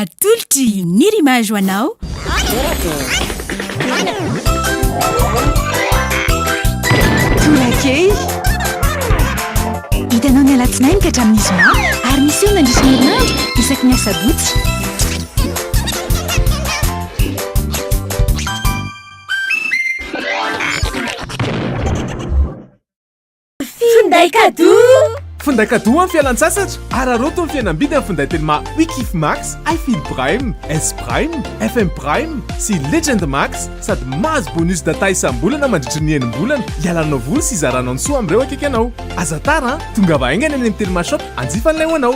Atolotry ny Rimage ho anao. Tolakely. Hitanao ny alatsinainy ka hatramin'ny zoma ary miseho mandritra ny herinandro isaky ny asabotsy. Finday cadeau Finday cadeau amin'ny fialan-tsasatra Araraoty ny fihenam-bidy amin'ny finday telma Wikif Max, iField Prime, S Prime, FM Prime sy Legend Max sady mahazo bonus data isam-bolana mandritry ny enim-bolana hialanao voly sy hizaranao ny soa amin'ireo akaiky anao Aza tara an! Tongava haingana eny amin'ny telma shop hanjifa an'ilay ho anao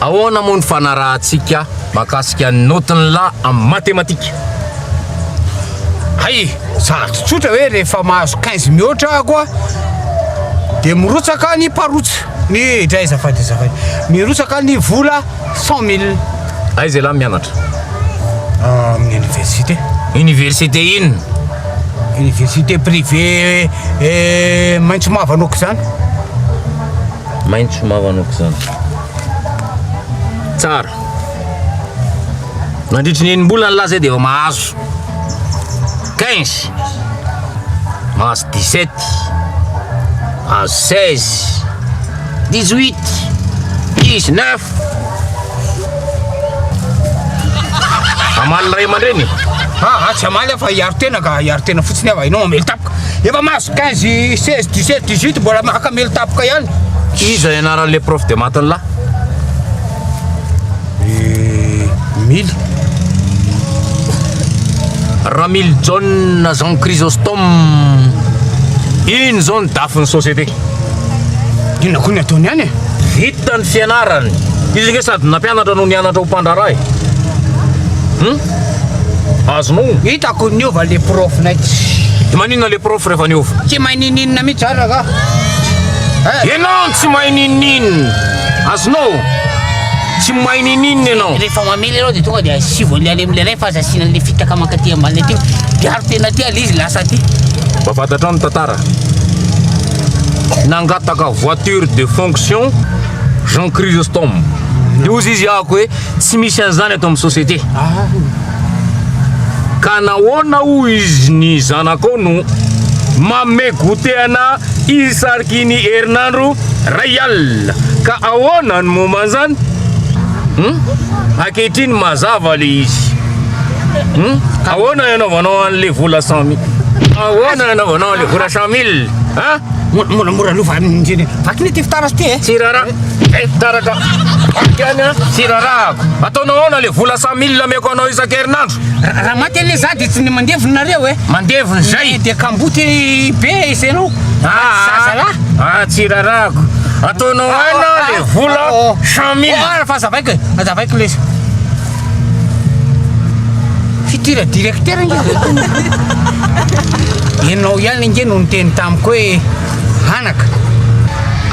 Ahoana moa ny fanarahantsika mahakasika ny naotin'ny la amin'ny matematika? Hay, sady tsotra hoe rehefa mahazo 15 mihoatra ako a, dia mirotsaka ny parotsa, ny dray azafady azafady, mirotsaka ny vola 100 mille. Aiza ialahy mianatra? Amin'ny université. Université inona? Université privée eh, maitso mavana aok'izany. Maitso mavo anoko izany. Tsara. Nandritry ny enim-bolana lahy zay dia efa mahazo 15. Mahazo 17. Mahazo 16. 18. 19. Amaly ray aman-dreny. Ah, ah, tsy amaly aho fa hiaro tena ka, hiaro tena fotsiny aho, ianao mamely tapoka. Efa mahazo 15, 16, 17, 18 mbola maka melo tapoka ihany. Iza i anaran'ny le prof de maths lahy? Eh, mily. Ramil John Jean Chrysostome. Iny zao ny dafin'ny société. Inona koa ny ataony any e? Vita ny fianarany. Izy nge sady nampianatra no nianatra ho mpandraharaha e. Hmm? Azonao? Hitako niova le prof nay Tsy maninona le prof rehefa niova? Tsy mahay nininona mihitsy zany ragah eh. Enao no tsy mahay nininona Azonao? Tsy mahay nininona enao Rehefa mamely ianao dia tonga dia asivo an'le alemy le ray fa aza asiana an'le fitaka mankaty ambany aty Miaro tena aty al'izy lasa aty Mba fantatrao ny tantara Nangataka voiture de fonction Jean Chrysostome Dia hozy izy ahako hoe Tsy misy an'izany ato amin'ny société. Ka nahoana hoy izy ny zanakao no manome goûter anà izy sariky ny herinandro iray alina. Ka ahoana ny momba an'izany? Hum? Ankehitriny mazava le izy. Hum? Ahoana ny anaovanao an'le vola cent mille? Ahoana ny anaovanao an'le vola cent mille? Hum? Mora mora aloha fa ny vaky ny ty fitaratra ty e. Tsy rarà. Taratra Amiko ihany an, tsy rarahako. Ataonao ahoana le vola cent mille ameko anao isan-kerinandro? Raha maty anie za de tsy ny mandevona nareo e. Mandevona izay. De kamboty be isenao. Zaza lahy. Ah, tsy rarahako. Ataonao aina le vola cent mille. Ohara fa azavaiko e. Azavaiko lesy. Fitir directeur nge. Ianao ihany nge no niteny tamiko hoe. hanaka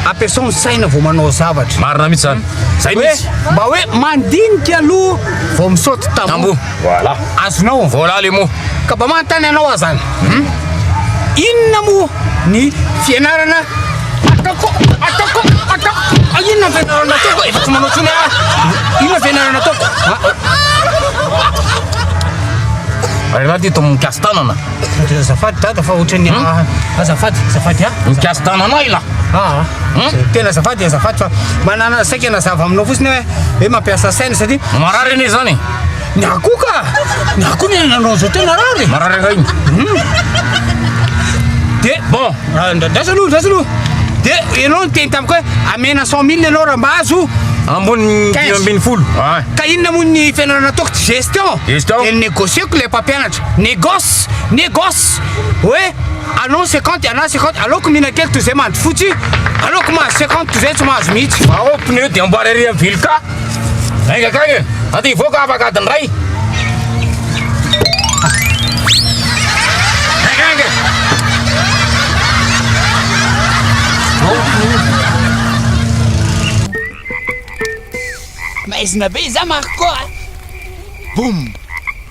ampiasao ny saina vao manao zavatra. Marina mihitsy zany. Zay mihitsy. Mba hoe mandinika aloha vao misaoty tamboho. Voilà. Azonao. Voilà les mots. Ka mba manontany anao aho zany. Hmm? Inona moa ny fianarana ataoko ataoko ataoko ah, inona fianarana ataoko efa tsy manao tsony ah. Inona fianarana ataoko? Ary ah, ah. raha dito amin'ny kasi tanana. Azafady dada fa ohatran'ny hmm? ah, azafady azafady ah. Mikasy tananao ila. Ah. Hmm? Tena azafady azafady fa manana saika nazava aminao fotsiny hoe hoe mampiasa saina satria marary anie zany. Ny akoho ka. Ny akoho ny nanao zao tena rary. Marary iray. Hmm? De bon, ah, ndrasa aloha, ndrasa aloha. De ianao niteny tamiko hoe amena 100 000 ianao raha mba azo ambony dimy ambin'ny folo ka inona moa ny fianarana ataoko gestion gestion de négocieko le mpampianatra Négoce! Négoce! Hoe allons cinquante ialahy cinquante aleoko mihinan-kely toy izay mandry fotsy, aleoko mahazo cinquante toy izay tsy mahazo mihitsy. Vao ao pneu dia amboary ary amin'ny vily ka. Enga akagny e! Ato hivoaka afaka adiny iray. Maizina be iza Marco a! Boum!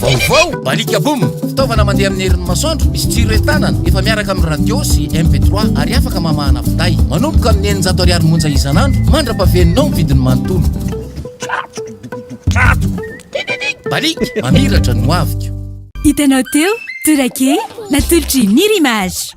Vaovao, alika boom, fitaovana mandeha amin'ny herin'ny masoandro, misy jiro entanana, efa miaraka amin'ny radio sy MP3 ary afaka mamahana finday. Manomboka amin'ny eninjato ariary monja isan'andro mandra-pavenonao ny vidiny manontolo. Balik, mamiratra ny hoaviko. Hitanao teo, Torake, natolotry Nirimage.